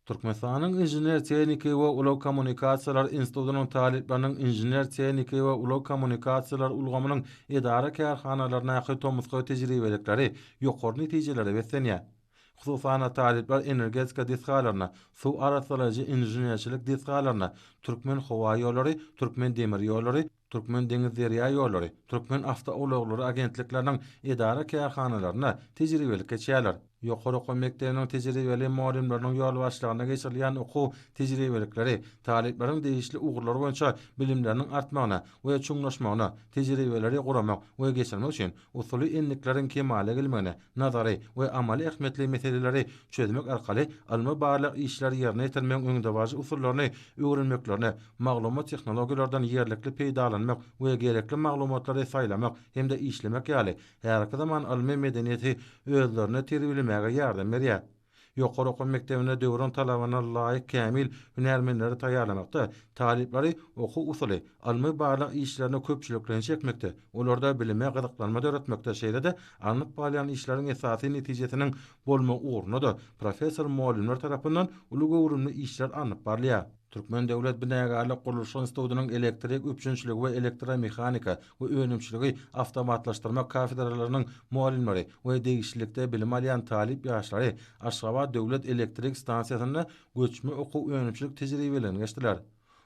Türkmenistanyň Inžener-tehniki we ulag kommunikasiýalar institutynyň talyplarynyň inžener-tehniki we ulag kommunikasiýalar ulgamynyň edara-kärhanalaryndaky tomusky tejribelikleri ýokary netijelere beslenýär. Hususan-da, talyplar energetika desgalaryna, suw arassalaýjy inženerçilik desgalaryna, Türkmenhowaýollary, Türkmendemirýollary, Türkmendeňizderýaýollary, Türkmenawtoulaglary agentlikleriniň edara-kärhanalaryna tejribelik geçýärler. Ýokary okuw mekdebiniň tejribeli mugallymlarynyň ýolbaşçylygynda geçirilýän okuw tejribelikleri talyplaryň degişli ugurlar boýunça bilimleriniň artmagyna we çuňlaşmagyna, tejribeleri guramak we geçirmek üçin usuly endikleriň kemala gelmegine nazary we amaly ähmiýetli meseleleri çözmek arkaly ylmy-barlag işleri ýerine ýetirmegiň öňdebaryjy usullaryny öwrenmeklerine, maglumat tehnologiýalardan ýerlikli peýdalanmak we gerekli maglumatlary saýlamak hem-de işlemek ýaly häzirki zaman ylmy medeniýeti özlerinde terbiýelemäge ýardam berýär. Ýokary okuw mekdebinde döwrüň talabyna laýyk kämil hünärmenleri taýýarlamakda, talyplary okuw-usuly, ylmy-barlag işlerine köpçülikleýin çekmekde, olarda bilime gyzyklanma döretmekde, şeýle-de alnyp barylýan işleriň esasy netijesiniň bolmagy ugrunda-da professor-mugallymlar tarapyndan uly göwrümli işler alnyp barylýar. Türkmen döwlet binägarlyk gurluşyk institutynyň elektrik üpjünçiligi we elektromehanika we önümçiligi awtomatlaşdyrmak kafedralarynyň mugallymlary we degişlilikde bilim alýan talyp ýaşlary Aşgabat döwlet elektrik stansiýasynda göçme okuw-önümçilik tejribeligini geçdiler.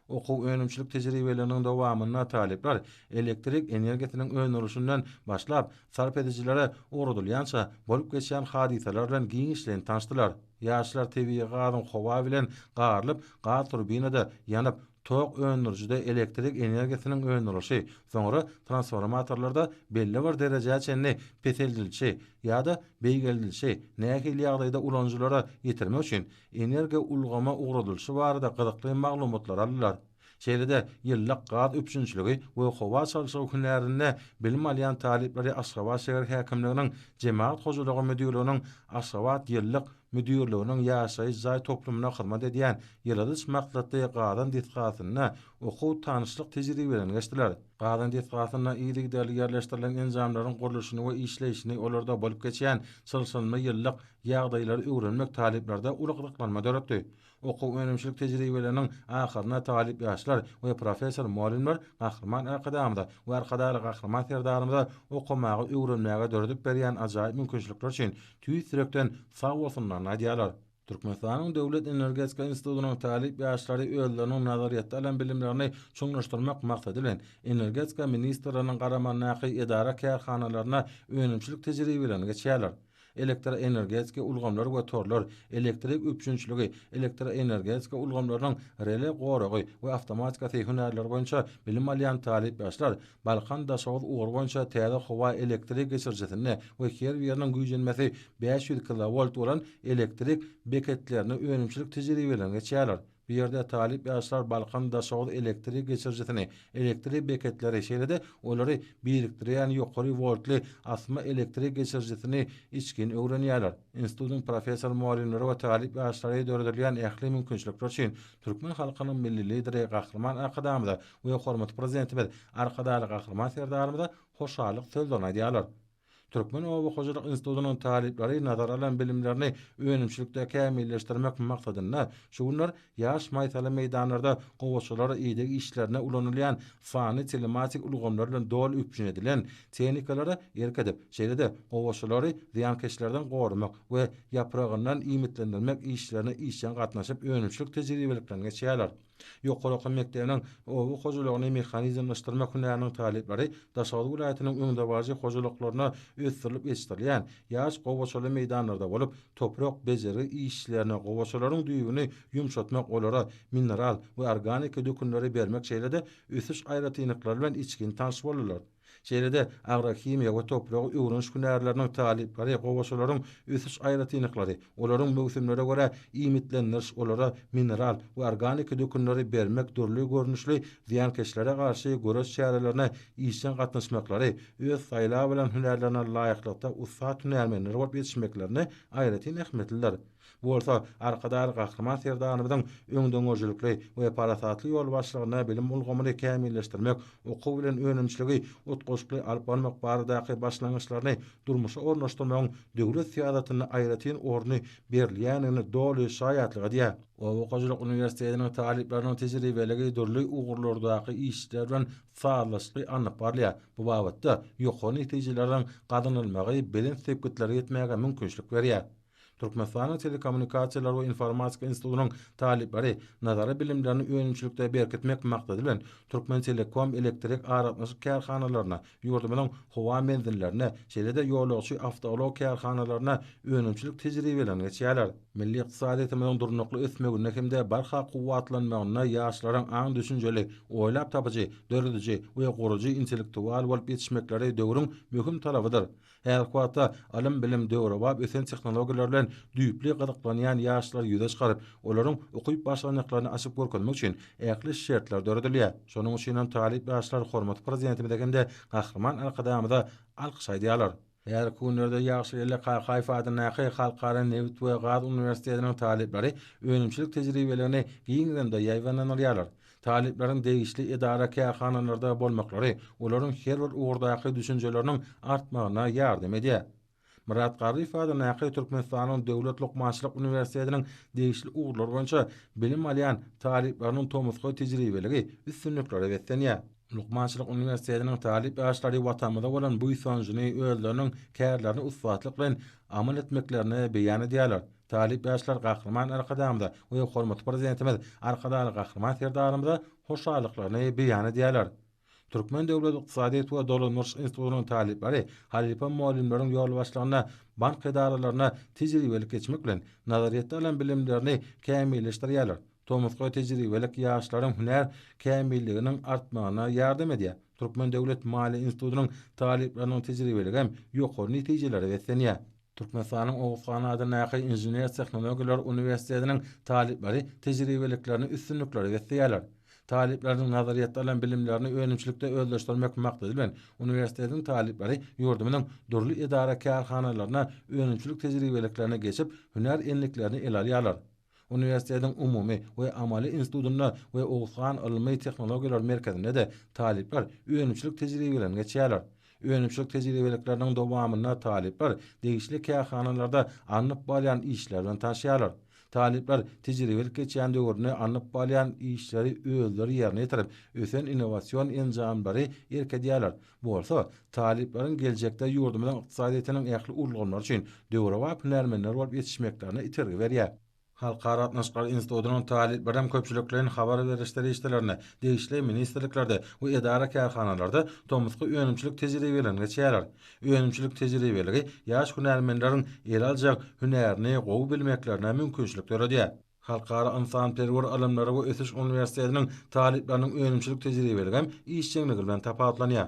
Okuw-önümçilik tejribeliginiň dowamynda talyplar elektrik energiýasynyň öndürilişinden başlap, sarp edijilere ugradylýança bolup geçýän hadysalar bilen giňişleýin tanşdylar. Ýaşlar tebigy gazyň howa bilen garylyp, gaz turbinada ýanyp, tok öndürijide elektrik energiýasynyň öndürilişi, soňra transformatorlarda belli bir derejä çenli peseldilişi ýa-da beýgeldilişi nähili ýagdaýda ulanyjylara ýetirmek üçin energiýa ulgama ugradylyşy barada gyzykly maglumatlary aldylar. Şeýle-de, ýyllak gaz üpjünçiligi we howa çalşygy hünärinde bilim alýan talyplary Aşgabat şäher häkimliginiň Jemagat hojalygy müdirliginiň Aşgabat ýyllak müdirliginiň ýaşaýyş jaý toplumyna hyzmat edýän ýyladyş maksatly gazan desgasynda okuw-tanyşlyk tejribelerini geçdiler. Gazan desgasynda yzygiderli ýerleşdirilen enjamlaryň gurluşyny we işleýşini, olarda bolup geçýän çylşyrymly ýyllak ýagdaýlary öwrenmek talyplarda uly gyzyklanma döretdi. Okuw-önümçilik tejribeleriniň ahyrynda talyp ýaşlar we professor-mugallymlar Gahryman Arkadagymyza we Arkadagly Gahryman Serdarymyza okamaga, öwrenmäge döredip berýän ajaýyp mümkinçilikler üçin tüýs ýürekden sag bolsunlaryny aýdýarlar. Türkmenistanyň Döwlet energetika institutynyň talyp ýaşlary özleriniň nazaryýetde alan bilimlerini çuňlaşdyrmak maksady bilen, Energetika ministrliginiň garamagyndaky edara-kärhanalaryna önümçilik tejribelerini geçýärler. elektroenergetika ulgamlary we torlar, elektrik üpjünçiligi, elektroenergetika ulgamlarynyň rele goragy we awtomatikasy hünärleri boýunça bilim alýan talyp ýaşlar Balkan-Daşoguz ugry boýunça täze howa elektrik geçirijisinde we her biriniň güýjenmesi bäş ýüz kilowolt bolan elektrik beketlerinde önümçilik tejribelerini geçýärler. Bu ýerde talyp ýaşlar Balkan Daşoguz elektrik geçirijisini, elektrik beketleri, şeýle-de olary birikdirýän ýokary woltly asma elektrik geçirijisini içgin öwrenýärler. Institutyň professor-mugallymlary we talyp ýaşlary döredilýän ähli mümkinçilikler üçin türkmen halkynyň Milli Lideri Gahryman Arkadagymyza we hormatly Prezidentimiz Arkadagly Gahryman Serdarymyza hoşallyk sözlerini aýdýarlar. Türkmen oba hojalyk institutynyň talyplary nazara alan bilimlerini önümçilikde kämilleşdirmek maksadynda şu günler ýaş maýsaly meýdanlarda gowaçalar ideg işlerinde ulanylýan fany-telematik ulgamlar bilen doly üpjün edilen tehnikalara erk edip, şeýle-de gowaçalary zyýankeşlerden goramak we ýapragyndan iýmitlendirmek işlerine işjeň gatnaşyp önümçilik tejribeliklerini geçýärler. Ýokary okuw mekdebiniň oba hojalygyny mehanizmleşdirmek hünäriniň talyplary Daşoguz welaýatynyň öňdebaryjy hojalyklarynda ösdürilip ýetişdirilýän ýaş gowaçaly meýdanlarda bolup, toprak bejergi işçilerine gowaçalaryň düýbüni ýumşatmak, olara mineral we organiki dökünleri bermek şeýle-de ösüş aýratynlyklary bilen içgin tanyş boldular. Şeýle-de, agrohimiýa we topragy öwreniş hünärleriniň talyplary gowaçalaryň ösüş aýratynlyklary, olaryň möwsümlere görä iýmitlendiriş, olara mineral we organiki dökünleri bermek, dürli görnüşli zyýankeşlere garşy göreş çärelerine işjeň gatnaşmaklary, öz saýlap alan hünärlerine laýyklykda ussat hünärmenler bolup ýetişmeklerini aýratyn ähmiýetlidir. Bu bolsa Arkadag Gahryman Serdarymyzyň öňdengörüjilikli we parasatly ýolbaşçylygynda bilim ulgamyny kämilleşdirmek, okuw bilen önümçiligi utgaşykly alyp barmak baradaky başlangyçlaryny durmuşa ornaşdyrmagyň döwlet syýasatynda aýratyn orny berilýändigine doly şaýatlyk edýär. Oba hojalyk uniwersitetiniň talyplarynyň tejribeligi dürli ugurlardaky işler bilen sazlaşykly alnyp barylýar, bu babatda ýokary netijeleriň gazanylmagy belent sepgitlere ýetmäge mümkinçilik berýär. Türkmenistanyň Telekommunikasiýalar we informatika institutynyň talyplary nazary bilimlerini önümçilikde berkitmek maksady bilen, Türkmentelekom elektrik aragatnaşyk kärhanalaryna, ýurdumyzyň howa menzillerine, şeýle-de ýolagçy awtoulag kärhanalaryna önümçilik tejribelerini geçýärler. Milli ykdysadyýetimiziň durnukly ösmeginde hem-de barha kuwwatlanmagynda ýaşlaryň aň-düşünjeli, oýlap tapyjy, dörediji we gurujy intellektual bolup ýetişmekleri döwrüň möhüm talabydyr. Häzirki wagtda ylym-bilim, döwrebap ösen tehnologiýalar bilen düýpli gyzyklanýan ýaşlary ýüze çykaryp, olaryň ukyp başlandyklaryny açyp görkezmek üçin ähli şertler döredilýär. Şonuň üçin hem talyp ýaşlar hormatly Prezidentimize hem-de Gahryman Arkadagymyza alkyş aýdýarlar. Häzirki günlerde Ýagşyr Ella Kakaýew adyndaky Halkara nebit we gaz uniwersitetiniň talyplary önümçilik tejribeligini giňden-de ýaýbaňlanylýarlar. Talyplaryň degişli edara-kärhanalarda bolmaklary olaryň her bir ugurdaky düşünjeleriniň artmagyna ýardam edýär. Myrat Garryýew adyndaky Türkmenistanyň döwlet lukmançylyk uniwersitetiniň degişli ugurlar boýunça bilim alýan talyplarynyň tomusky tejribeligi üstünliklere beslenýär. Lukmançylyk uniwersitetiniň talyp ýaşlary Watanymyza bolan buýsanjyny özleriniň kärlerini ussatlyk bilen amal etmeklerinde beýan edýärler. Talyp ýaşlar Gahryman Arkadagymyza we hormatly Prezidentimiz Arkadagly Gahryman Serdarymyza hoşallyklaryny beýan edýärler. Türkmen döwlet ykdysadyýet we dolandyryş institutynyň talyplary halypa mugallymlaryň ýolbaşçylygynda bank edaralarynda tejribelik geçmek bilen, nazaryýetde alan bilimlerini kämilleşdirýärler, tomusky tejribelik ýaşlaryň hünär kämilliginiň artmagyna ýardam edýär, Türkmen döwlet maliýe institutynyň talyplarynyň tejribeligem ýokary netijelere beslenýär. Türkmenistanyň Oguz han adyndaky Inžener-tehnologiýalar uniwersitetiniň talyplary tejribeliklerini üstünliklere besleýärler. Talyplaryň nazaryýetde alan bilimlerini önümçilikde özleşdirmek maksady bilen, uniwersitetiň talyplary ýurdumyzyň dürli edara-kärhanalaryna önümçilik tejribeliklerine geçip, hünär endiklerini ele alýarlar. Uniwersitetiň umumy we amaly institutynda we Oguzhan ylmy tehnologiýalar merkezinde-de talyplar önümçilik tejribelerini geçýärler. Önümçilik tejribelikleriniň dowamynda talyplar degişli kärhanalarda alnyp barýan işler bilen tanşýarlar. Talyplar tejribelik geçýän döwründe alnyp barýan işleri özleri ýerine ýetirip, ösen innowasion enjamlary erk edýärler. bolsa, talyplaryň geljekde ýurdumyzyň ykdysadyýetiniň ähli ulgamlary üçin döwrebap hünärmenler bolup ýetişmeklerine itergi berýär. Halkara gatnaşyklary institutynyň talyplary hem köpçülikleýin habar beriş serişdelerinde, degişli ministrliklerde we edara-kärhanalarda tomusky önümçilik tejribelerini geçýärler. Önümçilik tejribeligi ýaş hünärmenleriň el aljak hünärini gowy bilmeklerine mümkinçilik döredýär. Halkara ynsanperwer ylymlary we ösüş uniwersitetiniň talyplarynyň önümçilik tejribeligi hem işjeňligi bilen tapawutlanýar.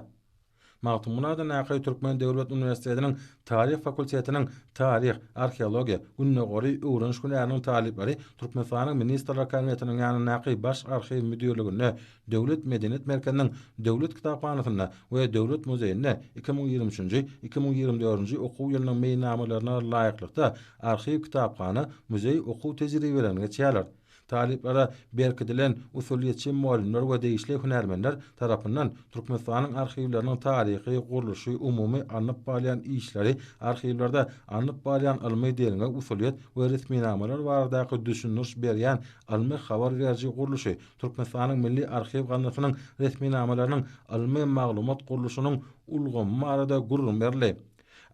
Magtymgulyada Nakaý Türkmen döwlet uniwersitetiniň Taryh fakultetiniň Taryh, arheologiýa, Gündogaryý öwreniş hünäriniň talyplary Türkmenistanyň Ministrler Kabinetiniň ýanyndaky Baş arhiw müdirliginde Döwlet medeniýet merkeziniň Döwlet kitaphanasynda we Döwlet muzeýinde iki müň ýigrimi üçünji, iki müň ýigrimi dördünji okuw ýylynyň meýilnamalaryna laýyklykda arhiw, kitaphana, muzeý okuw tejribelerini geçýärler. Talyplara berkidilen usulyýetçi mugallymlar we degişli hünärmenler tarapyndan Türkmenistanyň arhiwleriniň taryhy, gurluşy, umumy alnyp barylýan işleri, arhiwlerde alnyp barylýan ylmy derňew usulyýet we resminamalar baradaky düşündiriş berýän ylmy-habar beriji gurluşy, Türkmenistanyň Milli arhiw gaznasynyň resminamalarynyň ylmy maglumat gurluşynyň ulgamy barada gürrüň berildi.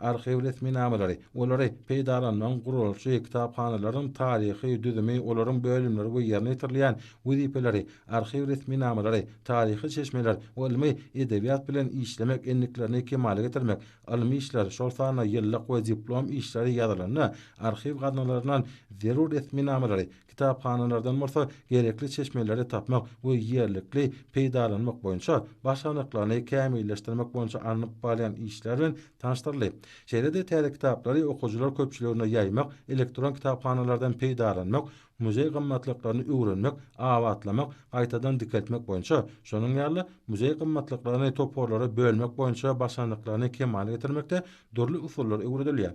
Arhiw resminamalary, olary peýdalanmagyň gurluşy, kitaphanalaryň taryhy düzümi, olaryň bölümleri we ýerine ýetirilýän wezipeleri, arhiw resminamalary, taryhy çeşmeler we ylmy edebiýat bilen işlemek endiklerini kemala getirmek, ylmy işler, şol sanda ýyllyk we diplom işleri ýazylanda arhiw gaznalaryndan zerur resminamalary kitaphanalardan bolsa gerekli çeşmeleri tapmak we ýerlikli peýdalanmak boýunça başarnyklaryny kämilleşdirmek boýunça alnyp barylýan işler bilen tanyşdyryldy. Şeýle-de täze kitaplary okyjylar köpçüligine ýaýmak, elektron kitaphanalardan peýdalanmak, muzeý gymmatlyklaryny öwrenmek, abatlamak, gaýtadan dikeltmek boýunça, şonuň ýaly, muzeý gymmatlyklaryny toparlara bölmek boýunça başarnyklaryny kemala getirmekde dürli usullar öwredilýär.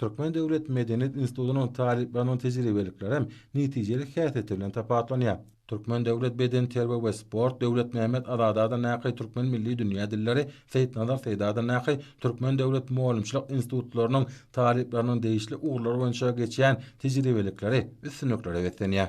Türkmen döwlet medeniýet institutynyň talyplarynyň tejribeliklerem netijelik häsiýeti bilen tapawutlanýar. Türkmen döwlet bedenterbiýe we sport, Döwletmämmet Azadada Naky Türkmen milli dünýä dilleri, Seýitnazar Seýdada Naky Türkmen döwlet mugallymçylyk institutlarynyň talyplarynyň degişli ugurlar boýunça geçýän tejribelikleri üstünliklere beslenýär.